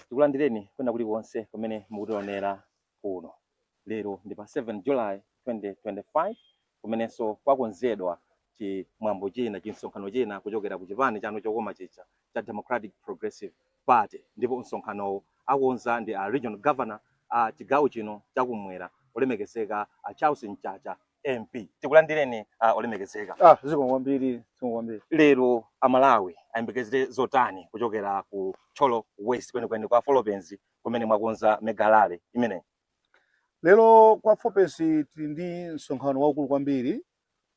tikulandireni kwina kulikonse kumene mukutionera kuno lero ndi pa 7 july 2025 kumenenso kwakonzedwa chimwambo china chinsonkhano china kuchokera ku chipani chanu chokoma chija cha democratic progressive party ndipo msonkhanowo akonza ndi a regional governor a chigawo chino chakumwera olemekezeka a charles mchacha MP tikulandireni uh, olemekezeka ah, zikomo kwambiri zikomo kwambiri lero amalawi ayembekezere zotani kuchokera ku Thyolo West kwenikweni kwa Folopenzi kumene mwakonza mega rally imeneyi lero kwa Folopenzi tili ndi msonkhano waukulu kwambiri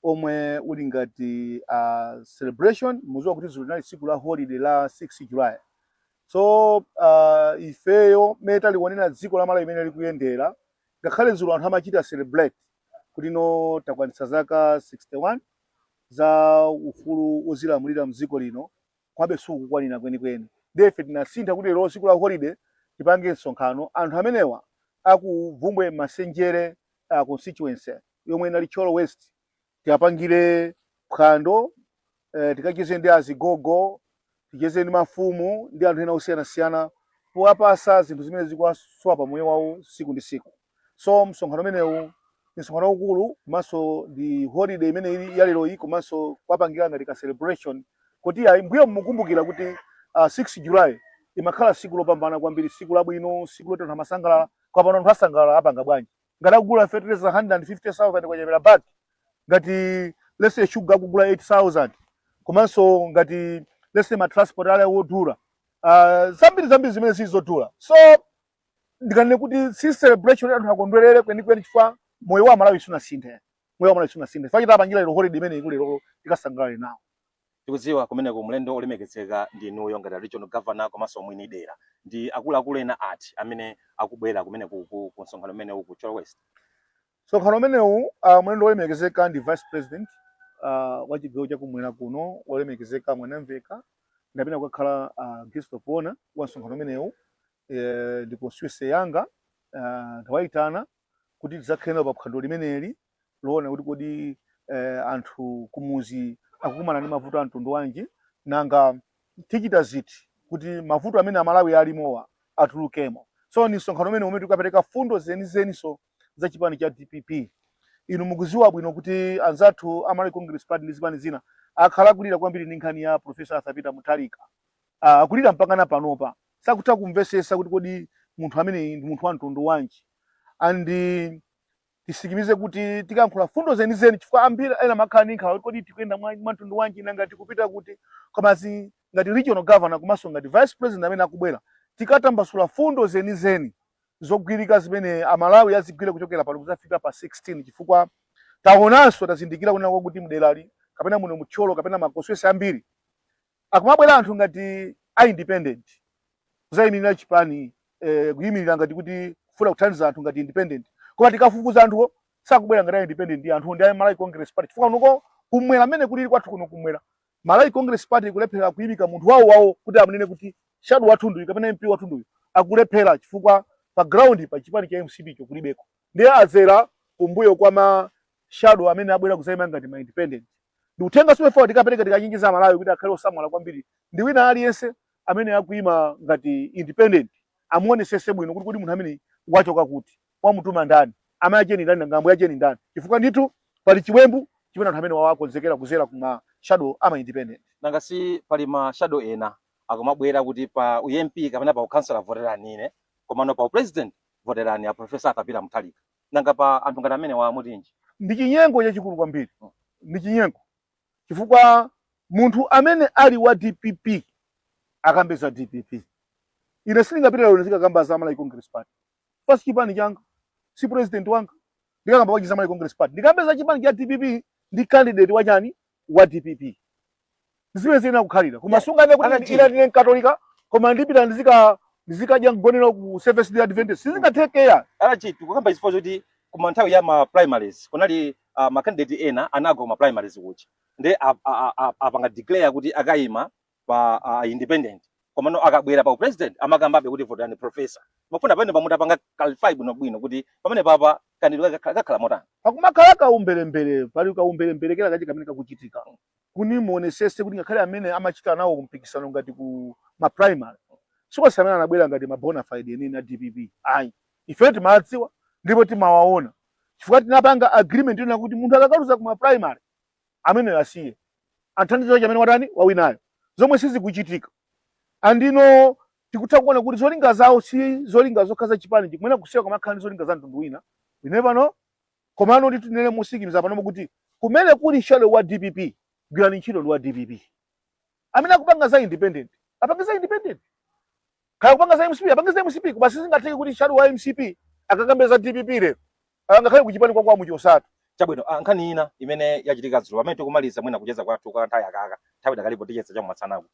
omwe uli ngati uh, celebration muziwa kuti dzulo linali tsiku la holiday la 6 July so uh, ifeyo mmene tikulionera dziko la Malawi mmene likuyendera Ngakhale dzulo anthu amachita celebrate kuti no takwanitsa zaka 61 za ufulu wozilamulira mdziko lino komabe sizikukwanira kwenikweni ndiye ife tinasankha kuti lero tsiku la holiday tipange msonkhano anthu amenewa aku Bvumbwe Masenjere uh, constituency yomwe inali Thyolo West tiwapangire phwando eh, tikacheze ndi azigogo ticheze ndi mafumu ndi anthu ena osiyanasiyana powapasa zinthu zimene zikuwasowa pa moyo wawo siku ndi siku so msonkhano umenewu ndi msonkhano waukulu komanso ndi holiday imene ili ya lero iyi komanso kuwapangira ngati ka celebration kuti ayi mbuyomu kukumbukira kuti uh, 6 july imakhala siku lopambana kwambiri siku labwino siku loti anthu amasangalala koma pano anthu asangalala apanga bwanji ngati akugula feteleza 150,000 kwacha per bag ngati let's say shuga akugula 8000 komanso ngati let's say ma transport ali odula uh, zambiri zambiri zimene zili zodula so ndikanene kuti si celebration anthu akondwerere kwenikweni chifukwa moyo wa amalawi sunasinthe moyo wa amalawi sunasinthe chifukwa chake tapangira lero holiday imene ili lero tikasangalale nawo Tikudziwa kumeneko mlendo wolemekezeka ndi inuyo ngati a regional governor komanso mwini dera. Ndi akuluakulu ena ati amene akubwera kumeneko ku ku msonkhano umenewu ku Thyolo West? Msonkhano umenewu ah, mlendo wolemekezeka ndi vice president ah, wa chigawo chakumwera kuno wolemekezeka Mwanamveka ndi amene akakhale ah, guest of honor wa msonkhano umenewu eh, ndi constituency yanga ah, ndawaitana kuti tidzakhale nawo pa phwando limeneli loona kuti kodi eh, anthu kumuzi akukumana ndi mavuto a mtundu wanji nanga tichita ziti kuti mavuto amene amalawi alimowa atulukemo so ni msonkhano umene umene tikapereka fundo zenizeniso za chipani cha dpp inu mukuziwa bwino kuti anzathu a Malawi Congress Party ndi zipani zina akhala kulira kwambiri ndi nkhani ya Professor Arthur Peter Mutharika Ah, kulira mpaka na panopa sakutha kumvesesa kuti kodi munthu ameneyi ndi munthu wa mtundu wanji and titsimikize kuti tikayankhula fundo zenizeni chifukwa ambiri amakhala ndi nkhawa kodi tikuyenda mwa mwa mtundu wanji nanga tikupita kuti komanso ngati regional governor komanso ngati vice president amene akubwera tikatambasula fundo zenizeni zogwirika zimene amalawi azigwire kuchokera pano kuzafika pa 16 chifukwa taonanso tazindikira kunena kwakuti mderali kapena muno m'Thyolo kapena makonsichuwensi ambiri Akumabwera anthu ngati a independent kuzayimirira chipani eh, kuyimirira ngati kuti kufuna kuthandiza anthu ngati independent koma tikafufuza anthuwo sakubwera ngati a independent anthuwo ndi a Malawi Congress Party chifukwa kuno kumwera amene kulili kwathu kuno kumwera Malawi Congress Party kulephera kuyimika munthu wawo wawo kuti amunene kuti shadow wathu nduyu kapena MP wathu nduyu akulephera chifukwa pa ground pa chipani cha MCP cho kulibeko ndiye azera kumbuyo kwa ma shadow amene abwera kuzayima ngati ma independent ndi uthenga womwe ife tikapereka tikachenjeza amalawi kuti akhale osamala kwambiri ndi wina aliyense amene akuima ngati independent amuonesese bwino kuti kodi munthu ameneyu wachoka kuti wamutuma ndani amayi acheni ndani nanga ambuye acheni ndani chifukwa ndithu pali chiwembu chimene anthu amenewa akonzekera kuzera kuma shadow ama independent nanga si pali ma shadow ena akumabwera kuti pa UMP kapena pa ukansala voterani ine komano pa upresident voterani a professor Arthur Peter Mutharika Nanga pa anthu ngati amenewa mutinji? Ndi chinyengo chachikulu kwambiri, ndi chinyengo chifukwa munthu amene ali wa dpp akambe za dpp. Ine sindingapite lero ndizikakamba za Malawi Congress Party chifukwa si chipani changa, si president wanga. Ndikakamba bwanji za Malawi Congress Party? Ndikambe za chipani cha dpp ndi candidate wa chani? wa dpp zimene ziyenera kukhalira koma sunganene kuti ine ndine mkatolika koma ndipita ndizika ndizikadya mgonero ku Seventh Day Adventist sizingatheke ayi achair tikukamba izi chifukwa choti kuma nthawi ya ma primaries kunali uh, ma candidate ena anagwa kuma primaries kuja nde a- a- a- a- apanga declare kuti akayima pa a a independent komano akabwera pa upresident amakambabe kuti votani professor timafuna pamenepa mutipange clarify bwinobwino kuti pamenepa pakambidwe kakha- kakhala motani pakumakhala kaumbirimbiri pali kaumbirimbiri kena kache kamene kakuchitika kuno muonesese kuti ngakhale amene amachita nawo mpikisano ngati ku ma primary si onse amene anabwera ngati ma bona fide enieni a dpp ayi ife timawadziwa ndipo timawaona chifukwa tinapanga agreement kunena kuti munthu akakaluza ku ma primary ameneyo asiye athandize nzache amene watani wawinayo zomwe sizikuchitika ndiyeno tikutha kuona kuti zolinga zawo si zolinga zokhudza chipani chimene akusiya koma akhala ndi zolinga za mtundu wina ine pano komano nditinene motsimikiza panopo kuti kumene kuli shadow wa dpp gwirani ntchito ndi wa dpp amene akupanga za independent apange za independent Kaya kupanga za MCP, apange za MCP, koma sizingatheke kuti shadow wa MCP akakambe za DPP lero. Ah, ngakhale kuchipani kwa a Muchosa. Chabwino, ah, nkhani ina imene yachitika dzulo pamene tikumaliza mwina kucheza kwathu kwa nthawi yakaka nthawi idakalipo ticheza chakumasanaku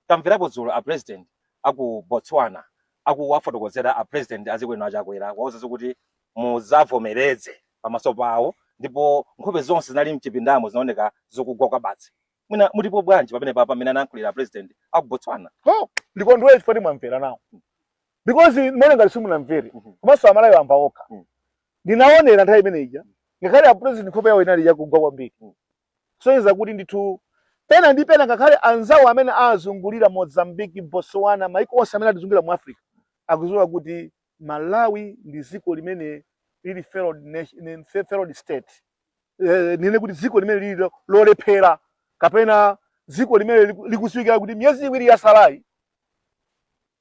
tamverapo dzulo a president aku Botswana akuwafotokozera a president azikwenu a Chakwera kuwauza zo kuti muzavomereze pamaso pawo ndipo nkhope zonse zinali mchipindamo zinaoneka zokugwa kwabasi mwina mutipo bwanji pamenepapa mmene anayankhulira president aku Botswana no ndikudziwa kuti mwamvera nawo because mwina ngati simunamvere Mhm. komanso aMalawi amva okha Mhm. ndinaonera nthawi imene ija ngakhale a president nkhope yawo inali yakugwa kwambiri Mhm. kusonyeza kuti ndithu pena ndi pena ngakhale anzawo amene azungulira Mozambique Botswana maiko onse amene atizungulira mu Africa akuziwa kuti Malawi ndi ziko limene lili failed nation, failed state eh, ndinene kuti ziko limene lili lo- lolephera kapena ziko limene liku- likuziwikira kuti miyezi iwiri yasalayi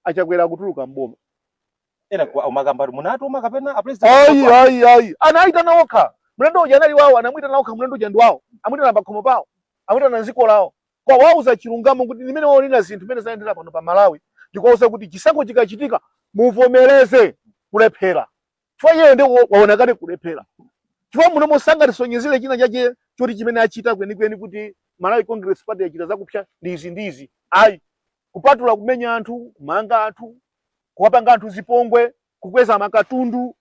a Chakwera akutuluka mboma ena ku- akumakamba kuti munawatuma kapena a president ayi munawatuma? ayi ayi anayitana okha mlendo uja anali wawo anamwitana okha mlendo uja ndi wawo amwitana pakhomo pawo amwitana mziko lawo Kuwauza chilungamo kuti mmene waonera zinthu mmene zayendera pano pa Malawi ndikuwauza kuti chisankho chikachitika muvomereze kulephera chifukwa iyeyo nde wa- waona kale kulephera chifukwa munomu sangatisonyezire china chake choti chimene achita kwenikweni kuti Malawi Congress Party yachita zakupsa ndi izi ndi izi ayi kupatula kumenya anthu kumanga anthu kuwapanga anthu zipongwe kukweza makatundu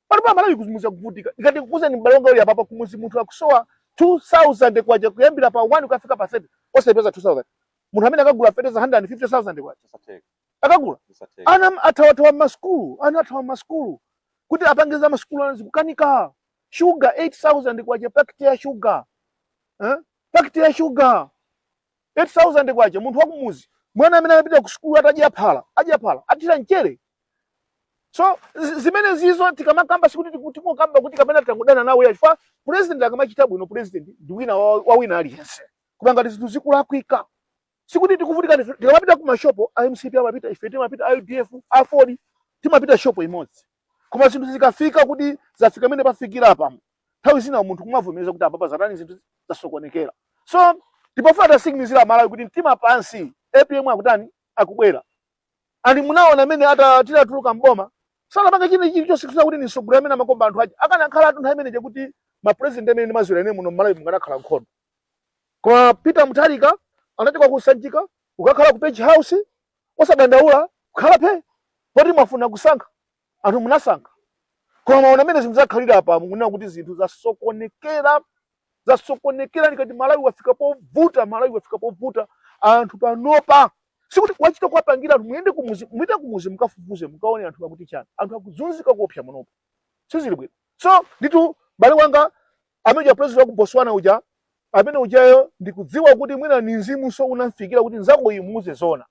Pano pa Malawi kuzimizira kuvutika. Nkati ndikuuzeni m'bale wanga muli apapa kumuzi munthu akusowa 2000 kwacha kuyambira pa 1 kufika pa 30 osaipeza 2000. Munthu ameneyo akagula fertilizer 150,000 kwacha. Satheka. Akagula. Satheka. Ana athawathawa m'masukulu, ana athawa m'masukulu kuti ma fees a masukulu ana zikukanika. Sugar 8000 kwacha pakiti ya sugar. Eh? Pakiti ya sugar. K8000 munthu wakumuzi mwana amene amapita ku sukulu atadya phala adya phala atathira mchere so zi- zimenezizo tikamakamba sikuti tiku- tikungokamba kuti kapena tangodana nawo ayi chifukwa president akamachita bwino president ndi wina wa wa wina aliyense koma ngati zinthu zikulakwika sikuti tikuvutika ndife- tikamapita ku mashopo a MCP amapita ife timapita a UDF AFORD timapita shopo imodzi Koma zinthu zikafika kuti zafika mmene zafikira apa, nthawi zina munthu kumavomereza kuti apapa zatani zinthu zasokonekera. So tikufuna tiwasimikizire aMalawi kuti mtima pansi, APM akutani akubwera. And munaona mmene atatuluka mboma sanapanga china chili chonse kuti ndi mtsogoleri amene amakonda anthu aja akanakhala anthu nthawi imene ija kuti mapurezidenti amene ndimaziwira ine muno mMalawi mukanakhala nkhondo koma Peter Mutharika anachoka ku Sanjika kukakhala ku Page House Osadandaula, khala phee, poti mwafuna kusankha, anthu munasankha. Koma mwaona mmene zinthu zakhalira apa, mukunena kuti zinthu zasokonekera, zasokonekera. Ndikati Malawi wafika povuta, Malawi wafika povuta. Anthu panopa sikuti wachita kuwapangira anthu, muyende kumuzi, mupite kumuzi mukafufuze, mukaone anthu akuti chiyani. Anthu akuzunzika kuopsa panopa, sizili bwino. So nditu bale wanga, amene uja president wa ku Botswana uja amene ujayo ndikudziwa kuti mwina ni mzimunso unamufikira kuti nzako imuuze zona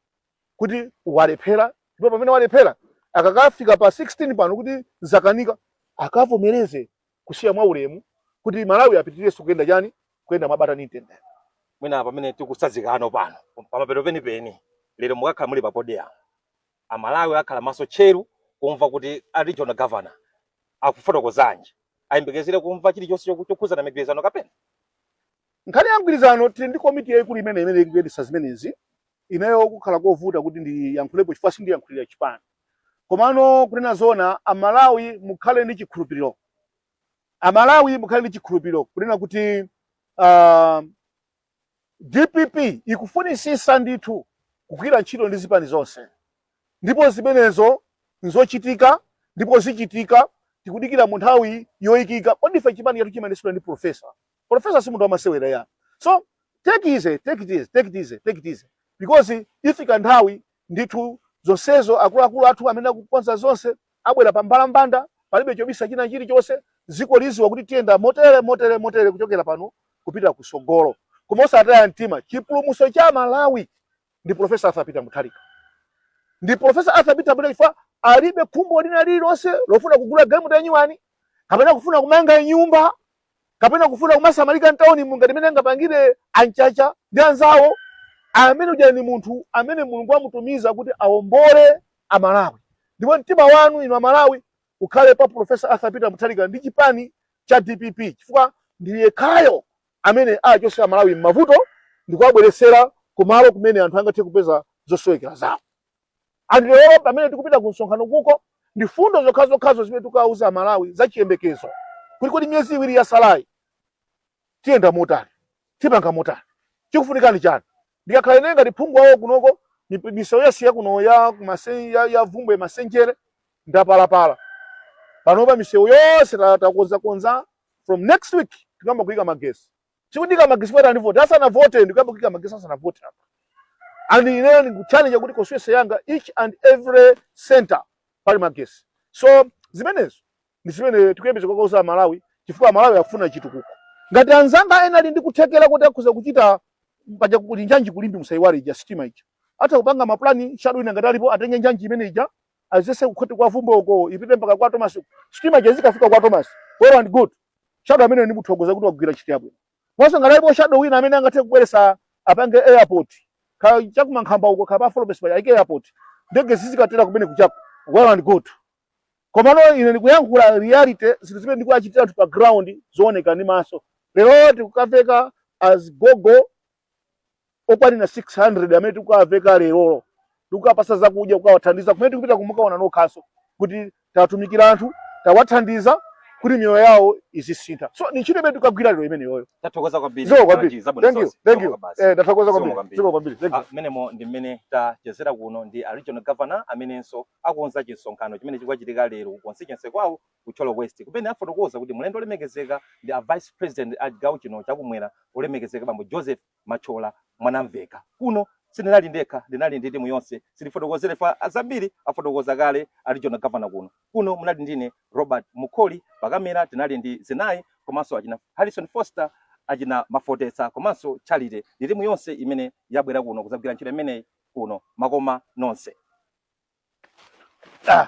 kuti walephera ndipo pamene walephera akakafika pa 16 pano kuti zakanika akavomereze kusiya mwa ulemu kuti Malawi apitirirenso kuyenda chani kuyenda mwabata ni mtendere mwina pamene tikutsazikana pano pamapeto penipeni lero mukakhala muli pa podium amalawi akhala maso tcheru kumva kuti a regional governor akufotokozanji ayembekezere kumva chilichonse choku- chokhudzana ndi migwirizano kapena nkhani ya mgwirizano tili ndi komiti yayikulu imene imene ikuyendetsa zimenezi ineyo pakhala kovuta kuti ndiyankhulepo chifukwa sindiyankhulira chipani komano kunena zona amalawi mukhale ndi chikhulupiriro amalawi mukhale ndi chikhulupiriro kunena kuti uh, Dpp ikufunitsitsa ndithu kugwira ntchito ndi zipani zonse ndipo zimenezo nzochitika ndipo zichitika tikudikira munthawi yoyikika kodi ife chipani chathu chimayendetsedwa ndi professor professor si munthu wamasewera ya so take easy take it easy take it easy take it easy because ifika nthawi ndithu zonsezo akuluakulu athu amene akukonza zonse Abwera pa mbalambanda, palibe chobisa china chilichonse. Dziko lidziwa kuti tiyenda motere, motere, motere kuchokera pano kupita kutsogolo. Koma osataya mtima, chipulumutso cha Malawi ndi Prof. Arthur Peter Mutharika. Ndi Prof. Arthur Peter Mutharika chifukwa alibe khumbo lina lililonse lofuna kugula galimoto yanyuwani kapena kufuna kumanga nyumba. kapena kufuna kumasamalika mtaunimu ngati mene angapangire a Mchacha ndi anzawo amene uja ni munthu amene mulungu amutumiza kuti aombole amalawi ndipo mtima wanu inu amalawi ukhale pa profesa arthur peter mutharika ndi chipani cha dpp chifukwa ndi yekhayo amene achotse amalawi m'mavuto ndikuwabweretsera kumalo kumene anthu angathe kupeza zosowekera zawo and lero pamene tikupita ku msonkhano kuko ndi fundo zokhazokhazo zimene tikawauza amalawi za chiyembekezo kuti kodi miyezi iwiri yatsalayi tiyenda motani tipanga motani chikufunikani chani ndikakhala ine ngati phungu wawo kunoko mip- misewu yasiya kuno ya kumase- ya- ya vumbwe masenjere ndapalapala panopa misewu yonse ta- takonzakonza from next week tiyamba kuyika magesi Sikuyika magesi after ndi vote. Asana vote ndikuyamba kuyika magesi asana vote apa. And ineyo ndikuchallenge kuti constituency yanga each and every center pali magesi. So zimenezo ndi zimene tikuyembeza kukauza aMalawi chifukwa aMalawi akufuna chitukuko. Ngati anzanga ena ali ndi kuthekera kuti akhoza kuchita paja kuli njanji ku Limbe musaiwale ija sitima ija. Atha kupanga maplani shadow wina ngati alipo atenge njanji imene ija adzetse kukhote kwa Bvumbwe uko ipite mpaka kwa Thomas sitima ija izikafika kwa Thomas well and good shadow ameneyo ndimuthokoza kuti wagwira ntchito yabwino mwinanso ngati alipo shadow wina amene angathe kubweresa apange airport kaya cha ku Mankhamba uko kapa Florence pa aike airport ndege zizikatera kumeneko chabe well and good komano ine ndikuyankhula reality zinthu zimene ndikuwachitira anthu pa ground zooneka ndi maso lero tikukaveka azigogo okwanira 600 amene tikukawaveka lerolo tikukapasa zakudya kukawathandiza kumene tikupita kuno mukaona nokhanso kuti tawatumikira anthu tawathandiza kuti miyoyo yawo izisintha so ni ntchito imene tikukagwira lero imeneyoyo tathokoza kwambiri zikomo kwambiri thank you thank you eh tathokoza kwambiri zikomo kwambiri thank you ah, mmenemo ndi mmene tachezera kuno ndi a regional governor amenenso akonza chimsonkhano chimene chikukachitika lero ku constituency kwawo ku Thyolo West kumene afotokoza kuti mlendo olemekezeka ndi a Vice President a chigawo chino cha kumwera olemekezeka bambo Joseph Machola Mwanamvekha. Kuno sindinali ndekha ndinali ndi timu yonse sitifotokozera ife zambiri afotokoza kale a regional governor kuno. Kuno munali ndi ine Robert Mukoli pakamera tinali ndi Zinayi komanso achina Harrison Foster achina Mafotesa komanso Charity ndi timu yonse imene yabwera kuno kuzagwira ntchito imeneyi kuno makoma nonse. Ah.